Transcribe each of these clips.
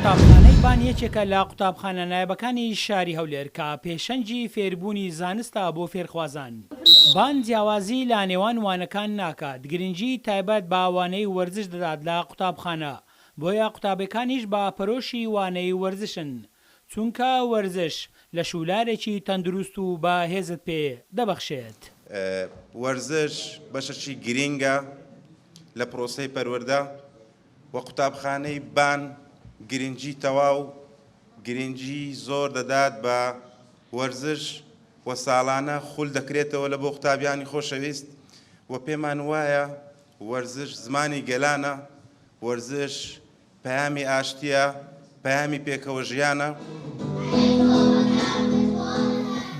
قوتابخانەی بان یەکێکە لە قوتابخانە نایابەکانی شاری هەولێر کە پێشەنگی فێربوونی زانستە بۆ فێرخوازان. بان جیاوازی لە نێوان وانەکان ناکات، گرنگی تایبەت بە وانەی وەرزش دەدات لە قوتابخانە، بۆیە قوتابێکانیش بە پەرۆشی وانەی وەرزشن، چونکە وەرزش لە شوولارێکی تەندروست و بە هێزت پێ دەبەخشێت. وەرزش بەشەکی گرینگە لە پرۆسەی پەروەردە. و قوتابخانەی بان گرنگی تەواو گرنگی زۆر دەدات بە وەرزش و ساڵانە خول دەکرێتەوە لە بۆ قوتابیانی خۆشەویست و پێمان وایە وەرزش زمانی گەلانە وەرزش پەیامی ئاشتیە پەیامی پێکەوە ژیانە.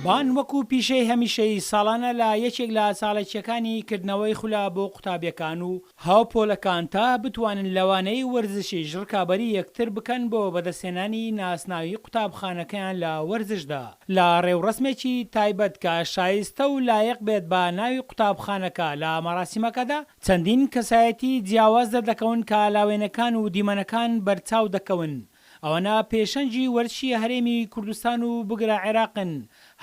بان وەکو پیشەی هەمیشەیی ساڵانە لە یەکێک لە چاڵەکیەکانی کردنەوەی خولە بۆ قوتابیەکان و هاوپۆلەکان تا بتوانن لەوانەیەی وەرزشیش ڕکابەری یەکتر بکەن بۆ بەدەستهێنانی ناسناوی قوتابخانەکەیان لە وەرزشدا لە ڕێوڕەسمێکی تایبەت کە شایستە و لایق بێت بە ناوی قوتابخانەکە لە مەراسیمەکەدا چەندین کەسایەتی جیاواز دەردەکەون کە لاوێنەکان و دیمەنەکان بەرچاو دەکەون ئەوەنە پێشەنگی وەرزشی هەرێمی کوردستان و بگرە عێراقن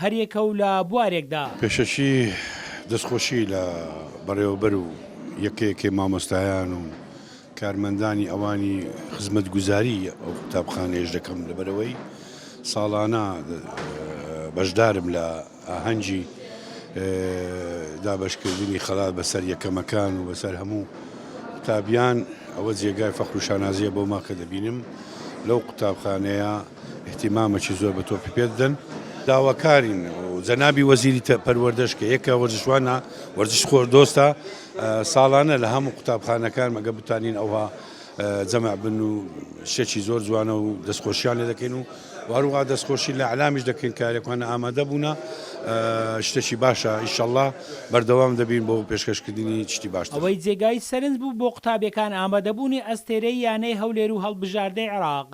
هەر یەکە و لە بوارێکدا. پێشەکی دەستخۆشی لە بەڕێوەبەر و یەکە یەکەی مامۆستایان و کارمەندانی ئەوانی خزمەتگوزاری ئەو قوتابخانەیەش دەکەم لەبەرئەوەی ساڵانە بەشدارم لە. ئاهەنگی دابەشکردنی خەڵات بەسەر یەکەمەکان و بەسەر هەموو قوتابیان ئەوە جێگای فەخر و شانازیە بۆ ما کە دەبینم لەو قوتابخانەیە احتیمامەکی زۆر بە تۆپی پێ دەدەن داواکارین جەنابی وەزیری پەروەردەش کە یەکە وەرزشوانە وەرزش خۆر دۆستە ساڵانە لە هەموو قوتابخانەکان مەگە بتانین ئەوها جەمع بن و شەچی زۆر جوانە و دەستخۆشیان لێ دەکەین و و هەروەها دەستخۆشی لە ئیلامش دەکەین کە هەرێکوانە ئامادە بوونە شتێکی باشە ئیشەڵڵا بەردەوام دەبین بۆ پێشکەشکردنی شتی باشتر. ئەوەی جێگای سەرنج بوو بۆ قوتابیەکان ئامادەبوونی ئەستێرەی یانەی هەولێر و هەڵبژاردەی عێراق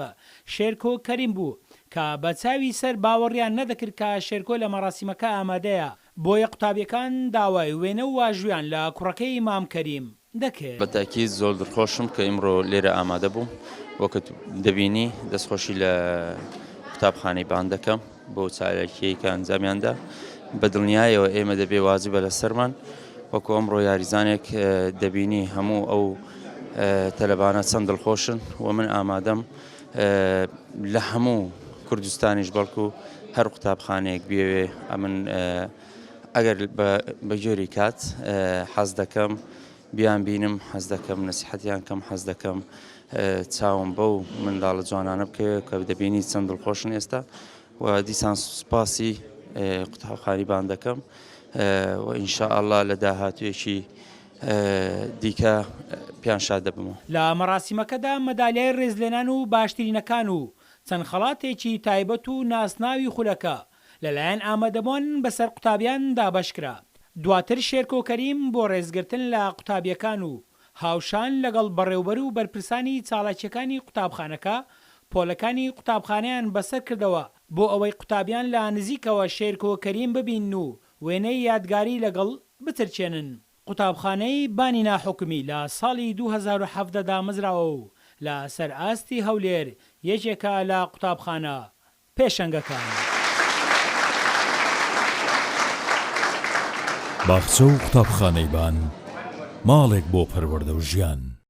شێرکۆ کەریم بوو کە بە چاوی سەر باوەڕیان نەدەکرد کە شێرکۆ لە مەراسیمەکە ئامادەیە بۆیە قوتابیەکان داوای وێنە و واژویان لە کوڕەکەی مام کەریم دەکرد. بەتاکید زۆر دڵخۆشم کە ئیمڕۆ لێرە ئامادە بووم وەکت دەبینی دەستخۆشی لە قوتابخانەی بان دەکەم بۆ چالاکیەی کە ئەنجامیاندا بە دڵنیایەوە ئێمە دەبێ واجبە لەسەرمان وەکو ئەمڕۆ یاریزانێک دەبینی هەموو ئەو تەلەبانە چەند دڵخۆشن و من ئامادەم لە هەموو کوردستانیش بەڵکو هەر قوتابخانەیەک بێوێ ئەمن ئەگەر بە جۆری کات حەز دەکەم بیان بینم حەز دەکەم نسیحەتیان کەم حەز دەکەم چاوم بەو منداڵە جوانانە بکەوێت کە دەبینی چەند دڵخۆشن ئێستا و دیسان سوپاسی قوتابخانیبان دەکەم و ئینشاءله لە داهاتوێکی دیکە پیان شاد دەبمەوە. لە مەراسیمەکەدا مەدالیای ڕێزلێنان و باشترینەکان و چەند خەڵاتێکی تایبەت و ناسناوی خولەکە لەلایەن ئامادەبوان بەسەر قوتابیان دابەشکرا، دواتر شێرکۆ کەریم بۆ ڕێزگرتن لە قوتابیەکان و هاوشان لەگەڵ بەڕێوبەر و بەرپرسانی چالاکیەکانی قوتابخانەکە پۆلەکانی قوتابخانەیان بەسەر کردەوە بۆ ئەوەی قوتابیان لە نزیکەوە شێرکۆ کەریم ببینن و وێنەی یادگاری لەگەڵ بچرکێنن. قوتابخانەی بانی ناحکومی لە ساڵی دوو هەزار و حەڤدە دامەزراوە و لە سەر ئاستی هەولێر یەکێکە لە قوتابخانە پێشەنگەکانی. باخچە و قوتابخانەی بان، ماڵێک بۆ پەروەردە و ژیان.